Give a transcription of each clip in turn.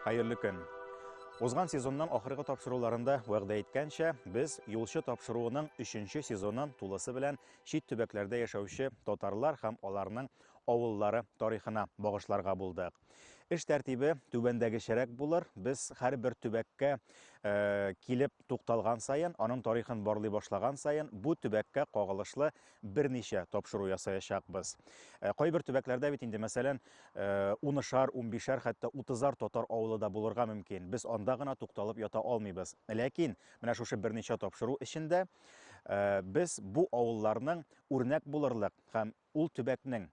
Хәерле көн. Узган сезонның ахыргы тапшыруларында вәгъдә иткәнчә, без юлчы тапшыруының 3 сезонын тулысы белән чит төбәкләрдә яшәүче татарлар һәм аларның авыллары тарихына багышларга булдык. Эш тәртибе түбәндәгечәрәк булыр. Без һәрбер төбәккә килеп тукталган саен, аның тарихын барлый башлаган саен, бу төбәккә кагылышлы берничә тапшыру ясаячакбыз. Кайбер төбәкләрдә бит инде, мәсәлән, унышар, унбишәр, хәтта утызар татар авылы да булырга мөмкин. Без анда гына тукталып ята алмыйбыз. Ләкин менә шушы берничә тапшыру эчендә без бу авылларның үрнәк булырлык һәм Ул төбәкнең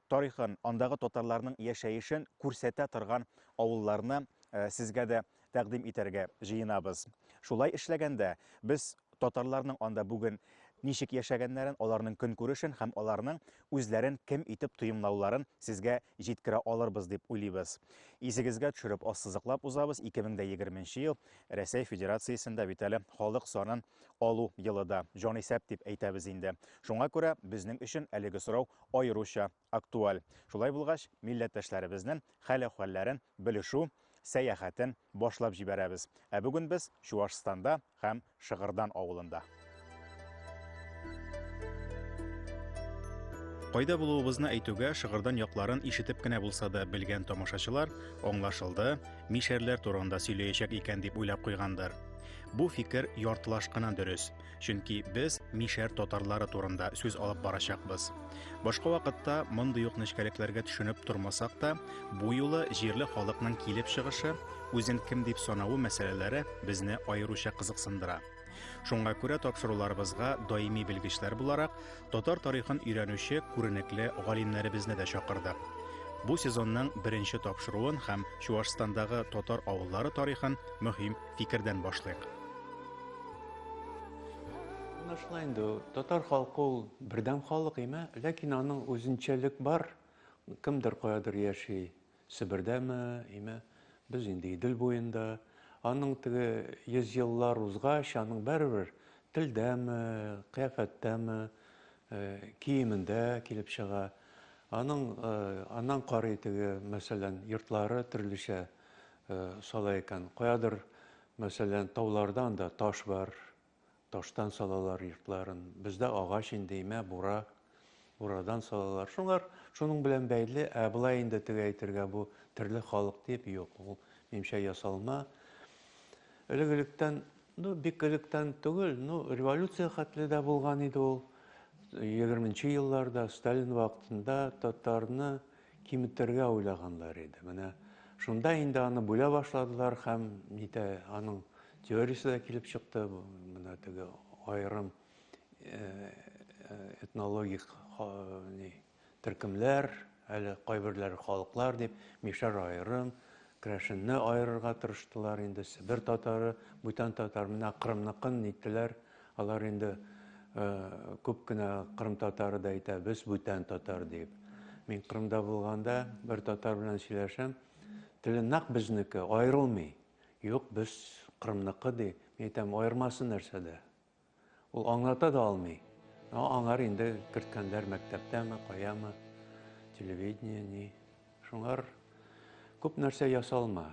тарихын, андагы татарларның яшәешен күрсәтә торган авылларны сезгә дә тәкъдим итәргә җыенабыз. Шулай эшләгәндә, без татарларның анда бүген ничек яшәгәннәрен, аларның көнкүрешен һәм аларның үзләрен кем итеп тоемлауларын сезгә җиткерә алырбыз дип уйлыйбыз. Исегезгә төшереп, ассызыклап узабыз, 2020 ел Рәсәй Федерациясендә бит әле халык санын алу елы да, җанисәп дип әйтәбез инде. Шуңа күрә безнең өчен әлеге сорау аеруча актуаль. Шулай булгач, милләттәшләребезнең хәл-әхвәлләрен белешү сәяхәтен башлап җибәрәбез. Ә бүген без Чуашстанда һәм Шыгырдан авылында. Кайда булуыбызны әйтүгә, Шыгырдан якларын ишетеп кенә булса да белгән тамашачылар, аңлашылды, мишәрләр турында сөйләячәк икән дип уйлап куйгандыр. Бу фикер яртылаш кына дөрес, чөнки без мишәр татарлары турында сүз алып барачакбыз. Башка вакытта мондый ук нечкәлекләргә төшенеп тормасак та, бу юлы җирле халыкның килеп чыгышы, үзен кем дип санавы мәсьәләләре безне аеруча кызыксындыра. Шуңа күрә тапшыруларыбызга даими белгечләр буларак татар тарихын өйрәнүче күренекле галимнәребезне дә чакырдык. Бу сезонның беренче тапшыруын һәм Чуашстандагы татар авыллары тарихын мөһим фикердән башлыйк. Аңлашыла инде, татар халкы ул бердәм халык име, ләкин аның үзенчәлек бар, кемдер каядыр яши, Себердәме, име, без инде Идел буенда, аның теге йөз еллар узгач, аның бәрбер телдәме, кыяфәттәме, э, киемендә килеп чыга. Аның э, аннан карый теге, мәсәлән, йортлары төрлечә, сала икән. Каядыр, мәсәлән, тауларда анда таш бар, таштан салалар йортларын. Бездә агач инде, имә, бура, бурадан салалар. Шуңар, шуның белән бәйле, ә болай инде теге әйтергә бу терле халык дип, юк, ул мимчә ясалма. Элек-электән, ну, бик электән түгел, ну, революция хәтле дә булган иде ул. Егерменче елларда, Сталин вакытында татарны Киметергә уйлаганнар иде. Менә шунда инде аны бүлә башладылар һәм нитә аның теориясе дә килеп чыкты. Менә теге аерым этнологик төркемләр, әле кайберләре халыклар дип, мишәр аерым, Крәшенне аерырга тырыштылар инде, Себер татары, бүтән татар, менә Кырымныкын ниттеләр, алар инде күп кенә Кырым татары да әйтә, без бүтән татар диеп. Мин Кырымда булганда бер татар белән сөйләшәм, теле нак безнеке, аерылмый. Юк, без Кырымныкы ди. Мин әйтәм, аермасы нәрсәдә? Ул аңлата да алмый. Но аңар инде керткәннәр мәктәптәме, каямы, телевидение ни. Шуңар күп нәрсә ясалма.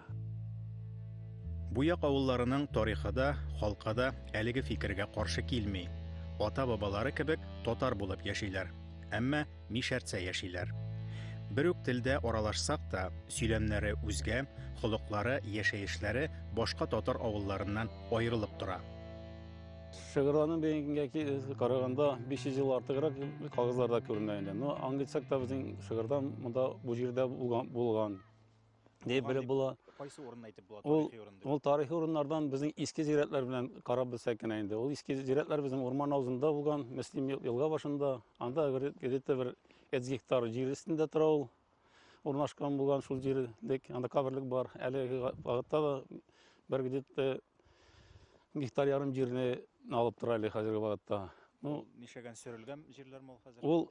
Буяк авылларының тарихы да, халкы да әлеге фикергә каршы килми. Ата-бабалары кебек татар булып яшиләр. Әмма Мишәрцә яшиләр. Бер үк телдә аралашсак та, сөйләмнәре үзгә, холыклары, яшәешләре башка татар авылларыннан аерылып тора. Шыгырланы бегенгә караганда 500 ел артыграк кагызларда күренә инде. Но аңлыйсак та безнең шыгырдан монда бу җирдә булган. дип белеп була. Кайсы урынны әйтеп була тарихи урын дип? Ул тарихи урыннардан безнең иске зирәтләр белән карап белсәк кенә инде. Ул иске зирәтләр безнең урман авызында булган, Мөслим елга башында. Анда где-то бер 100 гектар җир өстендә тора ул. Урнашкан булган шул җирлек, анда каберлек бар. Әлеге вакытта да бер где-то гектар ярым җирне алып тора әле хәзерге вакытта. Ну, нишәгән сөрелгән җирләр мул хәзер? Ул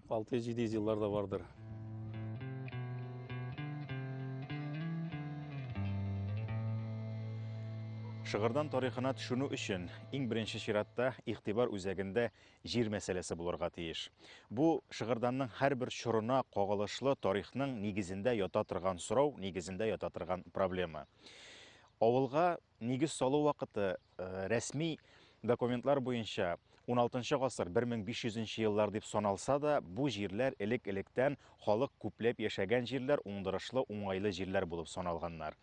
600-700 еллар да бардыр. Шыгырдан тарихына төшүнү өчен иң беренче чиратта игътибар үзәгендә җир мәсьәләсе булырга тиеш. Бу Шыгырданның һәрбер чорына кагылышлы тарихның нигезендә ята торган сорау, нигезендә ята торган проблема. Авылга Нигез салу вакыты рәсми документлар буенча 16 гасыр 1500 еллар дип саналса да, бу җирләр элек-электән халык күпләп яшәгән җирләр, уңдырышлы, уңайлы җирләр булып саналганнар.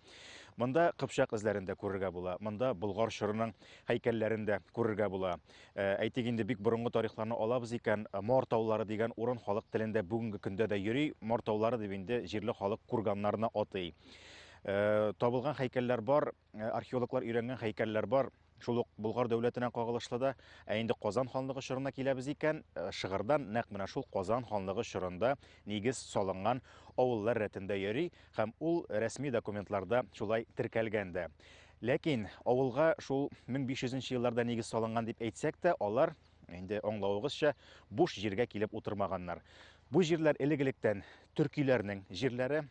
Монда кыпчак эзләрен дә күрергә була, монда Болгар чорының һәйкәлләрен дә күрергә була. Э, әйтик инде бик борынгы тарихларны алабыз икән, э, Мор таулары дигән урын халык телендә бүгенге көндә дә йөри, Мор таулары дип инде җирле халык курганнарны атый. Э, табылган һәйкәлләр бар, э, археологлар өйрәнгән һәйкәлләр бар. Шул ук Болгар дәүләтенә кагылышлы да. Ә инде Казан ханлыгы чорына киләбез икән, э, шыгырдан нәкъ менә шул Казан ханлыгы чорында нигез салынган авыллар рәтендә йөри һәм ул рәсми документларда шулай теркәлгән дә. Ләкин авылга шул 1500 елларда нигез салынган дип әйтсәк тә, алар инде аңлавыгызча буш җиргә килеп утырмаганнар. Бу җирләр элек-электән төркиләрнең җирләре,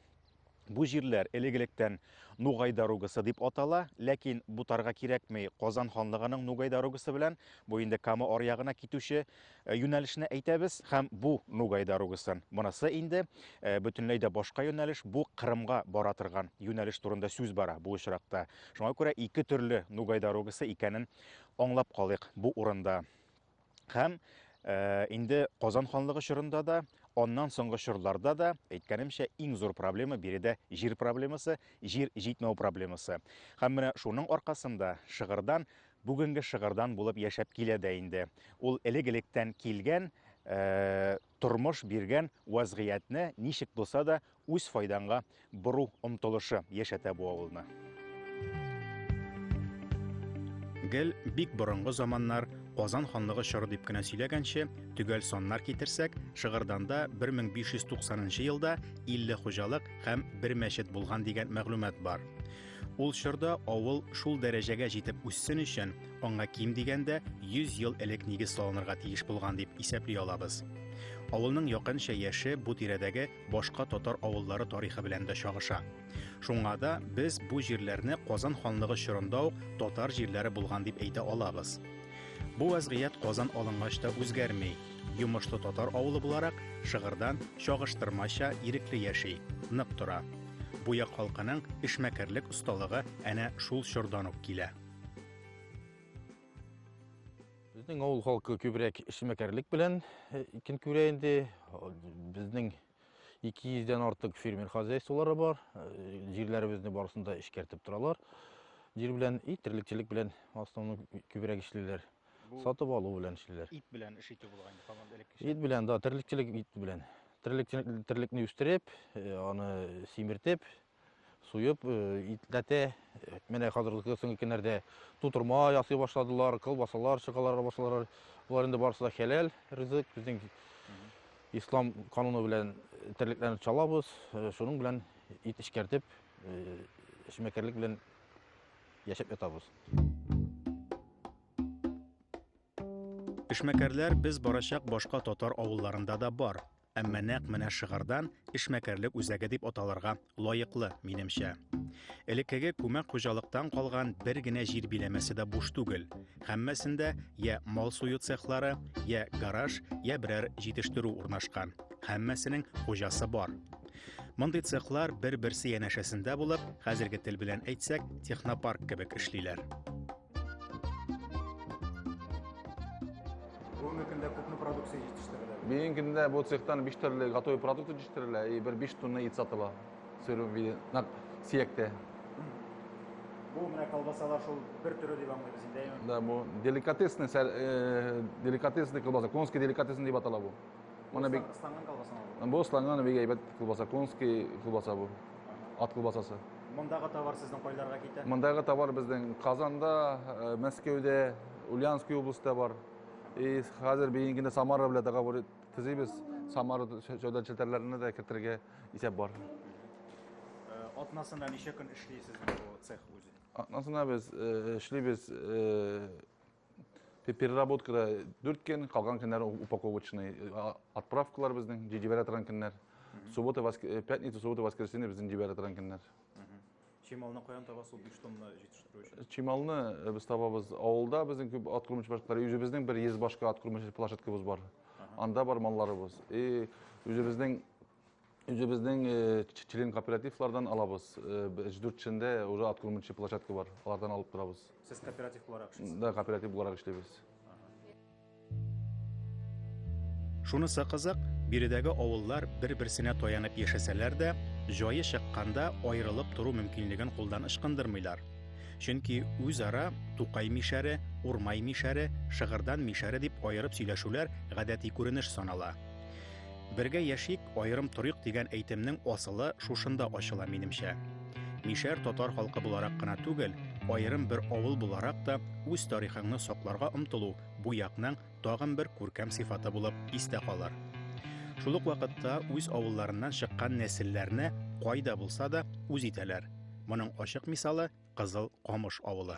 Бу җирләр элек-электән Нугай дорогасы дип атала, ләкин бутарга кирәкми, Казан ханлыгының Нугай дорогасы белән бу инде Кама аръягына китүче э, юнәлешне әйтәбез һәм бу Нугай дорогасы. Монысы инде э, бөтенләй дә башка юнәлеш, бу Кырымга бара торган юнәлеш турында сүз бара бу очракта. Шуңа күрә ике төрле Нугай дорогасы икәнен аңлап калыйк бу урында. Һәм э, инде Казан ханлыгы чорында да, аннан соңгы чорларда да, әйткәнемчә, иң зур проблема биредә җир проблемасы, җир җитмәү проблемасы. Һәм менә шуның аркасында шыгырдан бүгенге шыгырдан булып яшәп килә дә инде. Ул элек-электән килгән э, Тормыш биргән вәзгыятьне ничек булса да үз файдаңга бору омтылышы яшәтә бу авылны. Гел бик борынгы заманнар, Казан ханлыгы чоры дип кенә сөйләгәнче, төгәл саннар китерсәк, Шыгырданда 1590 елда 50 хуҗалык һәм бер мәчет булган дигән мәгълүмат бар. Ул чорда авыл шул дәрәҗәгә җитеп үссен өчен, аңа ким дигәндә 100 ел элек нигез салынырга тиеш булган дип исәпли алабыз. Авылның якынча яше бу тирәдәге башка татар авыллары тарихы белән дә чагыша. Шуңа да без бу җирләрне Казан ханлыгы чорында ук татар җирләре булган дип әйтә алабыз. Бу вазгыять Казан алынгач та үзгәрми. Йомышлы татар авылы буларак, шыгырдан чагыштырмача ирекле яши, нык тора. Бу як халкының эшмәкәрлек осталыгы әнә шул чордан ук килә. Безнең авыл халкы күбрәк эшмәкәрлек белән э, көн күрә инде. Безнең 200 дән артык фермер хозяйстволары бар. Э, җирләребезне барысын да эшкәртеп торалар. Җир белән и терлекчелек белән основном күбрәк эшлиләр. Бу сатып алу белән эшлиләр. Ит белән эш итү булган инде һаман элеккечә. Ит белән, да, терлекчелек ит белән. Терлек, терлекне үстереп, э, аны симертеп, суеп, э, итләтә. Э, менә хәзерге соңгы көннәрдә тутырма ясый башладылар, колбасалар чыгалар башладылар. Болар инде барысы да хәләл ризык. Безнең ислам кануны белән терлекләрне чалабыз, шуның белән ит эшкәртеп, эшмәкәрлек белән яшәп ятабыз. Эшмәкәрләр без барачак башка татар авылларында да бар, әмма нәкъ менә шыгырдан эшмәкәрлек үзәге дип аталырга лаеклы, минемчә. Элеккеге күмәк хуҗалыктан калган бер генә җир биләмәсе дә буш түгел. Һәммәсендә я мал сую цехлары, я гараж, я берәр җитештерү урнашкан. Һәммәсенең хуҗасы бар. Мондый цехлар бер-берсе янәшәсендә булып, хәзерге тел белән әйтсәк, технопарк кебек эшлиләр. Бүгенге көндә күпме продукция җитештерелә? Бүгенге көндә бу цехтан 5 төрле готовый продукт җитештерелә и бер 5 тонна ит сатыла. Сөрү виде, на сияктә. Бу менә колбасалар шул бер төре дип аңлыйбыз инде. Да, бу деликатесный, э, деликатесный колбаса, конский деликатесный дип атала бу. Моны бик ысланган колбаса бу. Бу ысланган бик әйбәт колбаса, конский колбаса бу. Ат колбасасы. Мондагы товар сезнең кайларга китә? Мондагы товар безнең Казанда, э, Мәскәүдә, Ульяновский областьта бар. И хәзер бигенә Самара белән договор төзибез. Самара сәүдә челтәрләренә дә кертергә исәп бар. Э, атнасына ничә көн эшлисез бу цех үзе? Атнасына без э, эшлибез переработкада дүрт көн калган көннәр упаковочный отправкалар безнең җибәрә торган көннәр суббота пятница суббота воскресенье безнең җибәрә торган көннәр чималны каян табасыз ул биш тонна җитештерү өчен чималны без табабыз авылда безнең күп ат күрмәүче башкалар үзебезнең бер йөз башка ат күрмәүче площадкабыз бар анда бар малларыбыз и үзебезнең Үзебезнең член кооперативлардан алабыз. Өч дүрт чендә уже откормчы площадка бар. Алардан алып торабыз. Сез кооператив буларак эшлисез? Да, кооператив буларак эшлибез. Шунысы кызык, биредәге авыллар бер-берсенә таянып яшәсәләр дә, җае чыкканда аерылып тору мөмкинлеген кулдан ычкындырмыйлар. Чөнки үзара Тукай мишәре, Урмай мишәре, Шыгырдан мишәре дип аерып сөйләшүләр гадәти күренеш санала. Бергә яшик, аерым торыйк дигән әйтемнең асылы шушында ачыла минемчә. Мишәр татар халкы буларак кына түгел, аерым бер авыл буларак та үз тарихыңны сакларга омтылу бу якның тагын бер күркәм сыйфаты булып истә калыр. Шул ук вакытта үз авылларыннан чыккан нәселләрне кайда булса да үз итәләр. Моның ачык мисалы Кызыл Камыш авылы.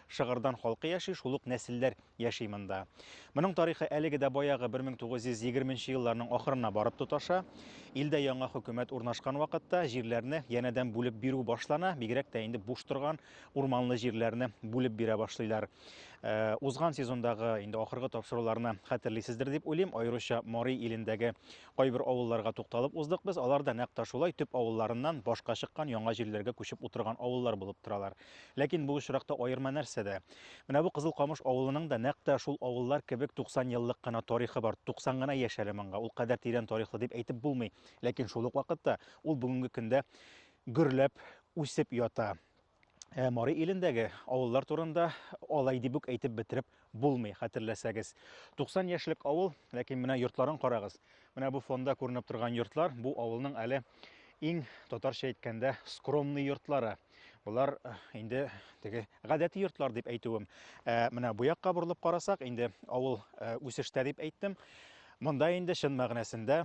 Шыгырдан халкы яши, шул ук нәселләр яши монда. Моның тарихы әлеге дә баягы 1920 нче елларның ахырына барып тоташа. Илдә яңа хөкүмәт урнашкан вакытта җирләрне янәдән бүлеп бирү башлана, бигрәк тә инде буш торган урманлы җирләрне бүлеп бирә башлыйлар. Э, узган сезондагы инде ахыргы тапшыруларны хәтерлисездер дип уйлыйм, аеруча Мари илендәге кайбер авылларга тукталып уздык без. Алар да нәкъ та шулай төп авылларыннан башка чыккан яңа җирләргә күчеп утырган авыллар булып торалар. Ләкин бу очракта аерма нәрсәдә? Менә бу Кызыл Камыш авылының да нәкъ тә шул авыллар кебек 90 еллык кына тарихы бар. 90 гына яшь әле моңга, ул кадәр тирән тарихлы дип әйтеп булмый. Ләкин шул ук вакытта ул бүгенге көндә гөрләп үсеп ята. Ә Мари илендәге авыллар турында алай дип үк әйтеп бетереп булмый, хәтерләсәгез. 90 яшьлек авыл, ләкин менә йортларын карагыз. Менә бу фонда күренеп торган йортлар, бу авылның әле иң татарча әйткәндә скромный йортлары. Болар э, инде теге гадәти йортлар дип әйтүем. Ә менә бу якка борылып карасак, инде авыл э, үсештә дип әйттем. Монда инде чын мәгънәсендә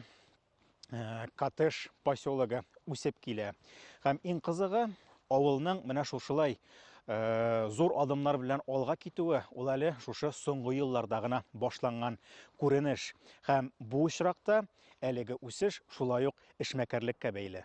Э, коттедж поселогы үсеп килә. Һәм иң кызыгы, авылның менә шушылай э, зур адымнар белән алга китүе ул әле шушы соңгы елларда гына башланган күренеш. Һәм бу очракта әлеге үсеш шулай ук эшмәкәрлеккә бәйле.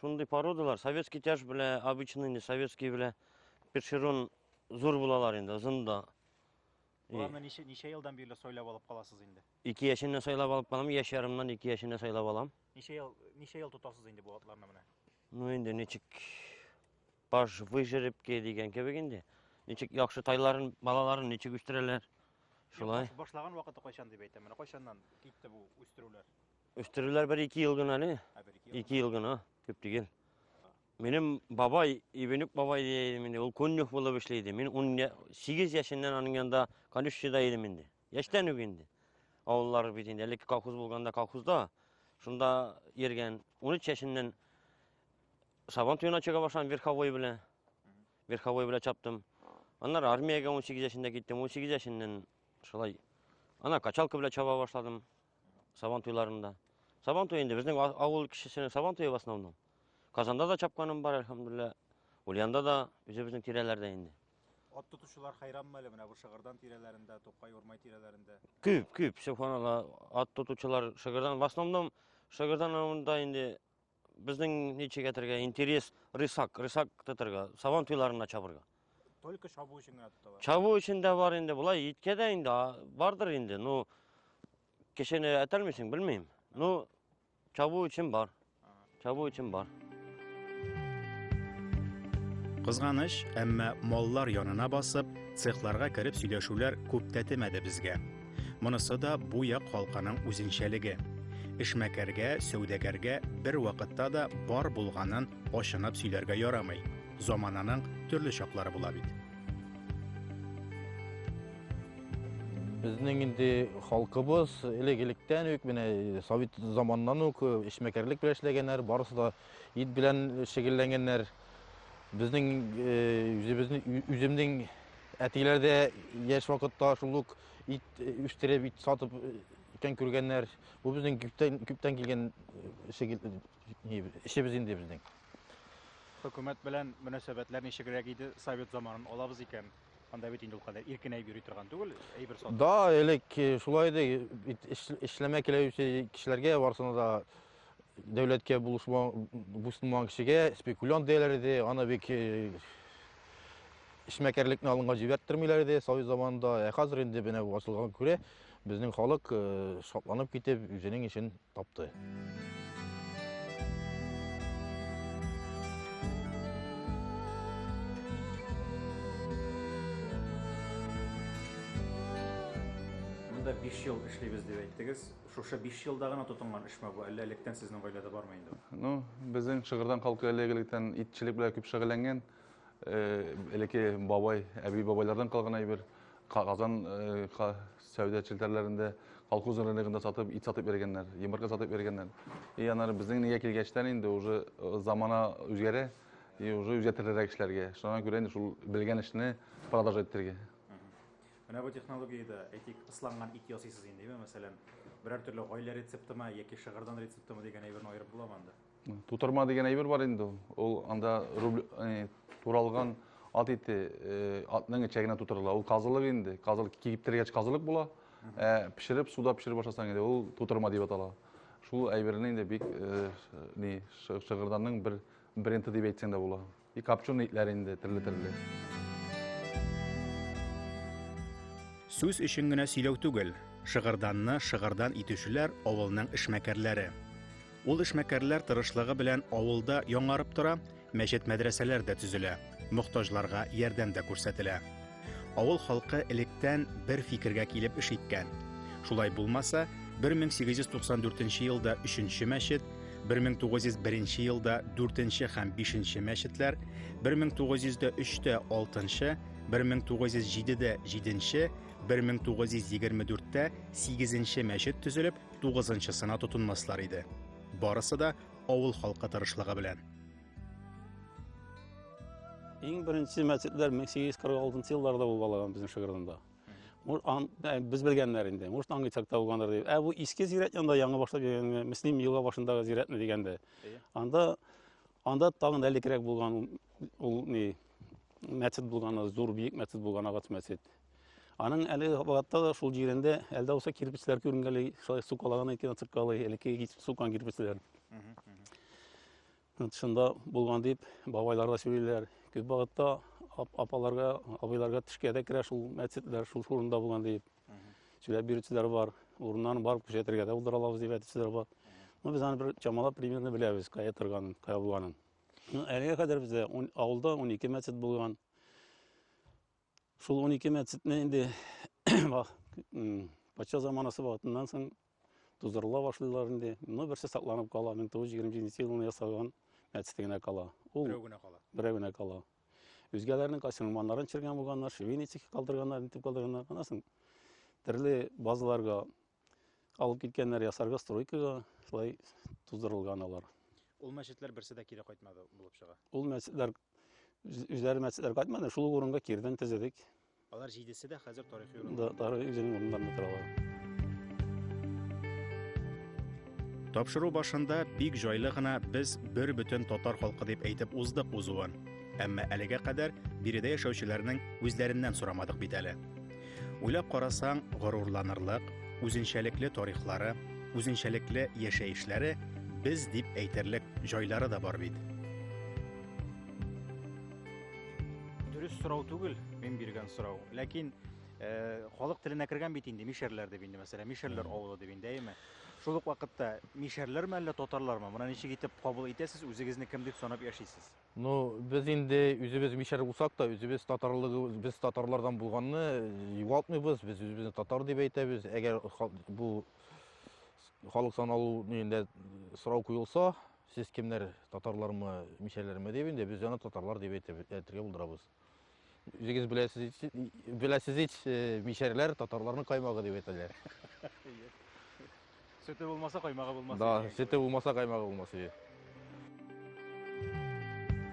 Шундый породалар, советский тяж белә, обычный не советский белә, першерон зур булалар инде, озын да. Боларны ничә, ничә елдан бирле сайлап алып каласыз инде? Ике яшеннән сайлап алып калам, яшь ярымнан ике яшеннән сайлап алам. Ничә ел, ничә ел тотасыз инде бу атларны менә? Ну инде ничек баш выжерепке дигән кебек инде. Ничек яхшы тайларын, балаларын ничек үстерәләр? Шулай. Башлаған вакыты кайчан дип әйтәм. Менә кайчаннан китте бу үстерүләр? Үстерүләр бер ике ел гына әле. Ике ел гына, күп түгел. Минем бабай, Ибенюк бабай дия идем инде, ул конюх булып эшли иде. Мин 18 яшеннән аның янында конюшчыда идем инде. Яшьтән үк инде. Авыллар бит инде, әлеге колхоз булганда колхозда, шунда йөргән. 13 яшеннән Сабан туена чыга башлам верховой белән. Верховой белән чаптым. Аннары армиягә 18 яшендә киттем. 18 яшеннән шулай ана качалка белән чаба башладым. Сабан туйларында. Сабан туй инде безнең авыл кешесенең сабан туе в основном. Казанда да чапканым бар, әлхәмдулилла. Ульянда да, үзебезнең тирәләрдә инде. Ат тотучылар хайранмы әле менә бу Шыгырдан тирәләрендә, Тукай Урмай тирәләрендә? Күп, күп, субханалла, ат тотучылар Шыгырдан, в основном Шыгырдан авылында инде Безнең ничек әйтергә интерес рысак, рысак тотырга, сабан туйларына чабырга. Только чабу өчен генә тоталар. Чабу өчен дә бар инде, болай иткә дә инде бардыр инде. Ну, кешене әтәлмисең, белмим. Ну, чабу өчен бар. Чабу өчен бар. Кызганыч, әмма маллар янына басып, цехларга кереп сөйләшүләр күп тәтемәде безгә. Монысы да бу як халкының үзенчәлеге. Эшмәкәргә, сәүдәгәргә бер вакытта да бар булганын ачынып сөйләргә ярамый. Замананың төрле чаклары була бит. Безнең инде халкыбыз элек-электән үк менә совет заманнан үк эшмәкәрлек белән эшләгәннәр, барысы да ит белән шөгыльләнгәннәр. Безнең үзебезнең үземнең Әтиләр дә яшь вакытта шул ук ит үстереп, ит сатып икән күргәннәр. Бу безнең күптән күптән килгән эшебез инде безнең. Хөкүмәт белән мөнәсәбәтләр ничегрәк иде? Совет заманын алабыз икән, анда бит инде ул кадәр иркенәй йөри торган түгел, әйбер сатып. Да, элек шулай иде, эшләмә киләүче кешеләргә барсына да Дәүләткә булышмаган кешегә спекулянт диярләр иде, аны бик эшмәкәрлекне алынга җибәрттермиләр иде совет заманында. Ә хәзер инде менә бу ачылганга күрә безнең халык шатланып китеп үзенең эшен тапты. Монда 5 ел эшлибез дип әйттегез. Шушы биш елда гына тотынган эшме бу, әллә электән сезнең гаиләдә бармы инде ул? Ну, безнең Шыгырдан халкы элек-электән итчелек белән күп шөгыльләнгән. Э, элекке бабай, әби-бабайлардан калган әйбер, Казан э, ха- сәүдә челтәрләрендә, колхоз рыногында сатып, ит сатып йөргәннәр, йомырка сатып йөргәннәр. И аннары безнең нигә килгәчтән инде уже э, замана үзгәрә, и уже үзгәртерлерәк эшләргә. Шуңа күрә инде шул белгән эшне продолжать итәргә. Менә бу технологиядә, әйтик, ысланган ит ясыйсыз инде, әйеме? Мәсәлән, берәр төрле гаилә рецептымы яки шыгырдан рецептымы дигән әйберне аерып буламы анда? Тутырма дигән әйбер бар инде ул. Ул анда рубль, э, туралган ат ите, э, атның эче генә тутырыла. Ул казылык инде. Казылык киптергәч казылык була. Ә пешереп, суда пешереп башласаң инде ул тутырма дип атала. Шул әйберне инде бик э, ш- ни, шы- шыгырданның бер бренды дип әйтсәң дә була. И копченый итләр инде төрле-төрле. Сүз өчен генә сөйләү түгел, шыгырданны шыгырдан итүчеләр авылның эшмәкәрләре. Ул эшмәкәрләр тырышлыгы белән авылда яңарып тора, мәчет-мәдрәсәләр дә төзелә, мохтаҗларга ярдәм дә күрсәтелә. Авыл халкы электән бер фикергә килеп эш иткән. Шулай булмаса, 1894 елда өченче мәчет, 1901 елда дүртенче һәм бишенче мәчетләр, 1903-тә алтынчы, 1907-дә җиденче, 1924-тә сигезенче мәчет төзелеп, тугызынчысына тотынмаслар иде. Барысы да авыл халкы тырышлыгы белән. Иң беренче мәчетләр 1846 елларда булып алган безнең Шыгырдында. Без белгәннәр инде, может аңгы чакта булгандыр дип. Ә бу иске зирәт янында яңа башлап йөргәнгә, Мөслим елга башындагы зирәтме дигәндә. Анда анда тагын да элекрәк булган ул ни мәчет булган, зур биек мәчет булган агач мәчет. Аның әле вакытта да шул җирендә әлдә булса кирпечләр күренгәли, шулай сукалаган икән, сукалы, элекке сукан кирпечләр. Шунда булган дип бабайлар да сөйлиләр. Күп вакытта апаларга, абыйларга төшкә дә керә шул мәчетләр, шул урында булган дип сөйләп бирүчеләр бар. Урыннан барып күрсәтергә дә булдыра алабыз дип әйтүчеләр бар. Ну, без аны бер чамалап примерно беләбез, кая торганын, кая булганын. Ну, әлегә кадәр бездә авылда 12 мәчет булган. Шул унике мәчетне инде патша заманасы вакытыннан соң тузырыла башлыйлар инде. Ну, берсе сакланып кала, 1927 елында ясалган мәчете генә кала. Ул берәү генә кала. Берәү генә кала. Үзгәләрнең кайсы мулманнарын чергән булганнар, шевеницики калдырганнар, нитеп калдырганнар. Аннан соң төрле базаларга Алып киткәннәр ясарга стройкага, шулай туздырылган алар. Ул мәчетләр берсе дә кире кайтмады булып чыга. Ул мәчетләр үзләре мәчетләр кайтмады, шул урынга кирдән тезедек. Алар җидесе дә хәзер тарихи урын. Да, тарихи үзенең урыннарында торалар. Тапшыру башында бик җайлы гына без бер бөтен татар халкы дип әйтеп уздык узуын. Әмма әлегә кадәр биредә яшәүчеләрнең үзләреннән сорамадык бит әле. Уйлап карасаң, горурланырлык, үзенчәлекле тарихлары, үзенчәлекле яшәешләре, без дип әйтерлек җайлары да бар бит. Дөрес сорау түгел, мин биргән сорау. Ләкин э, халык теленә кергән бит инде мишәрләр дип инде мәсәлән, мишәрләр авылы дип инде, әйеме? Шул ук вакытта мишәрләрме әллә татарлармы? Моны ничек итеп кабул итәсез, үзегезне кем дип санап яшисез? Ну, без инде үзебез мишәр булсак та, үзебез татарлыгы, без татарлардан булганны югалтмыйбыз, без үзебезне татар дип әйтәбез. Әгәр бу халык саналу нигендә сорау куелса, сез кемнәр, татарлармы, мишәрләрме дип инде, без аны татарлар дип әйтергә булдырабыз. Үзегез беләсез, беләсез ич, э, мишәрләр татарларның каймагы дип әйтәләр. Сөте булмаса каймагы булмас. Да, икән. сөте булмаса каймагы булмас иде.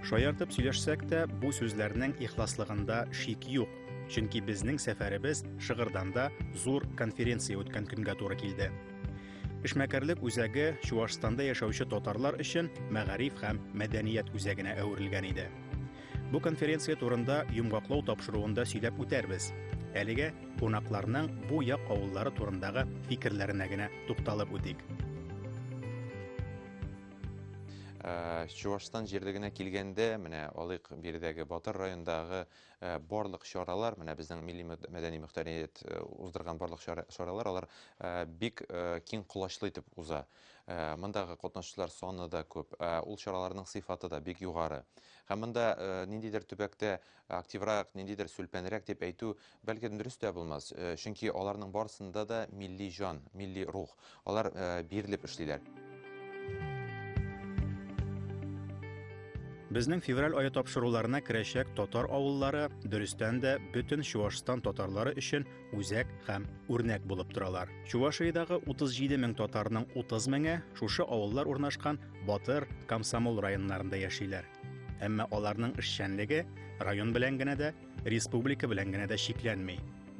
Шаяртып сөйләшсәк тә, бу сүзләрнең ихласлыгында шик юк. Чөнки безнең сәфәребез Шыгырданда зур конференция үткән көнгә туры килде. Эшмәкәрлек үзәге Чуашстанда яшәүче татарлар өчен мәгариф һәм мәдәният үзәгенә әверелгән иде. Бу конференция турында йомгаклау тапшыруында сөйләп үтәрбез. Әлегә кунакларның бу як авыллары турындагы фикерләренә генә тукталып үтик. Э, Чувашстан җирлегенә килгәндә, менә алыйк биредәге Батыр райондагы э, барлык чаралар, менә безнең милли мәдәни мөхтәрият э, уздырган барлык чаралар, алар бик киң колачлы итеп уза. Мондагы катнашучылар саны да күп, ул чараларның сыйфаты да бик югары. Һәм монда ниндидер төбәктә активрак, ниндидер сүлпәнрәк дип әйтү, бәлки, дөрес тә булмас, чөнки аларның барысында да милли җан, милли рух, алар бирелеп эшлиләр. Безнең февраль ае тапшыруларына керәчәк татар авыллары, дөрестән дә, бөтен Чуашстан татарлары өчен үзәк һәм үрнәк булып торалар. Чувашиядагы 37 мең татарның 30 меңе шушы авыллар урнашкан Батыр, Комсомол районнарында яшиләр. Әмма аларның эшчәнлеге район белән генә дә, республика белән генә дә чикләнми.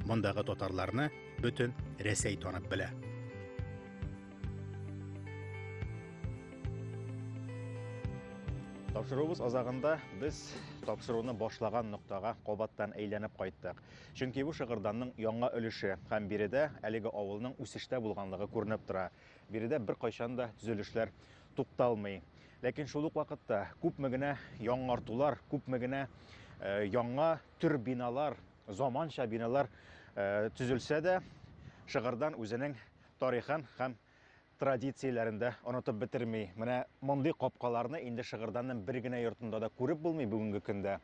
Мондагы татарларны бөтен Рәсәй танып белә. Тапшыруыбыз азагында без тапшыруны башлаган ноктага кабаттан әйләнеп кайттык. Чөнки бу Шыгырданның яңа өлеше һәм биредә әлеге авылның үсештә булганлыгы күренеп тора. Биредә беркайчан да төзелешләр тукталмый. Ләкин шул ук вакытта күпме генә яңартулар, күпме генә э, яңа төр биналар, заманча биналар э, төзелсә дә, Шыгырдан үзенең тарихын һәм традицияләрен дә онытып бетерми. Менә мондый капкаларны инде Шыгырданның бер генә йортында да күреп булмый бүгенге көндә.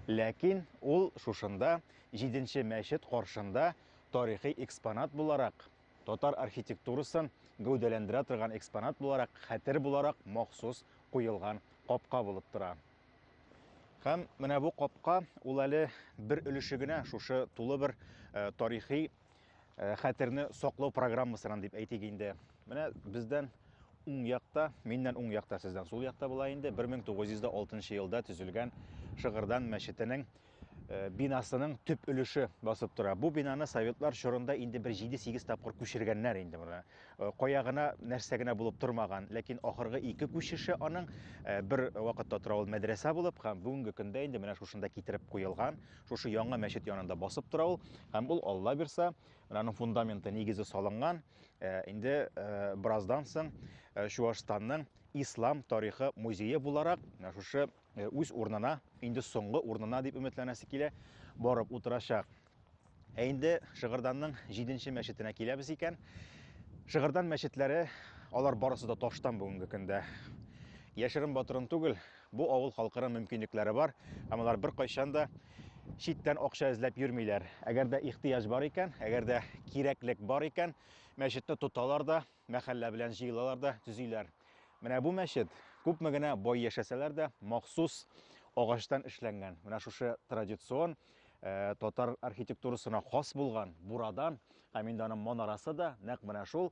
Ләкин ул шушында, җиденче мәчет каршында тарихи экспонат буларак, татар архитектурасын гәүдәләндерә торган экспонат буларак, хәтер буларак махсус куелган капка булып тора. Һәм менә бу капка ул әле бер өлеше генә шушы тулы бер э, тарихи э, хәтерне саклау программасынан дип әйтик инде. Менә бездән уң якта, миннән уң якта, сездән сул якта була инде 1906 елда төзелгән Шыгырдан мәчетенең э, бинасының төп өлеше басып тора. Бу бинаны советлар чорында инде бер 7-8 тапкыр күчергәннәр инде моны. Э, кая гына, нәрсә генә булып тормаган, ләкин ахыргы ике күчеше аның э, бер вакытта тора ул мәдрәсә булып һәм бүгенге көндә инде менә шушында китереп куелган, Шушы яңа мәчет янында басып тора ул, һәм ул Алла бирса, аның фундаменты нигезе салынган. Э, инде э, бераздан соң э, Чуашстанның ислам тарихы музее буларак шушы үз урынына, инде соңгы урынына дип өметләнәсе килә, барып утырачак. Ә инде Шыгырданның 7-нче мәчетенә киләбез икән. Шыгырдан мәчетләре, алар барысы да таштан бүгенге көндә. Яшерен батырын түгел, Бу авыл халкының мөмкинлекләре бар, һәм алар беркайчан да читтән акча эзләп йөрмиләр. Әгәр дә ихтыяҗ бар икән, әгәр дә кирәклек бар икән, мәчетне тоталар да, мәхәллә белән җыелалар да, төзиләр. Менә бу мәчет, күпме генә бай яшәсәләр дә, махсус агачтан эшләнгән. Менә шушы традицион э, татар архитектурасына хас булган бурадан, һәм инде аның манарасы да нәкъ менә шул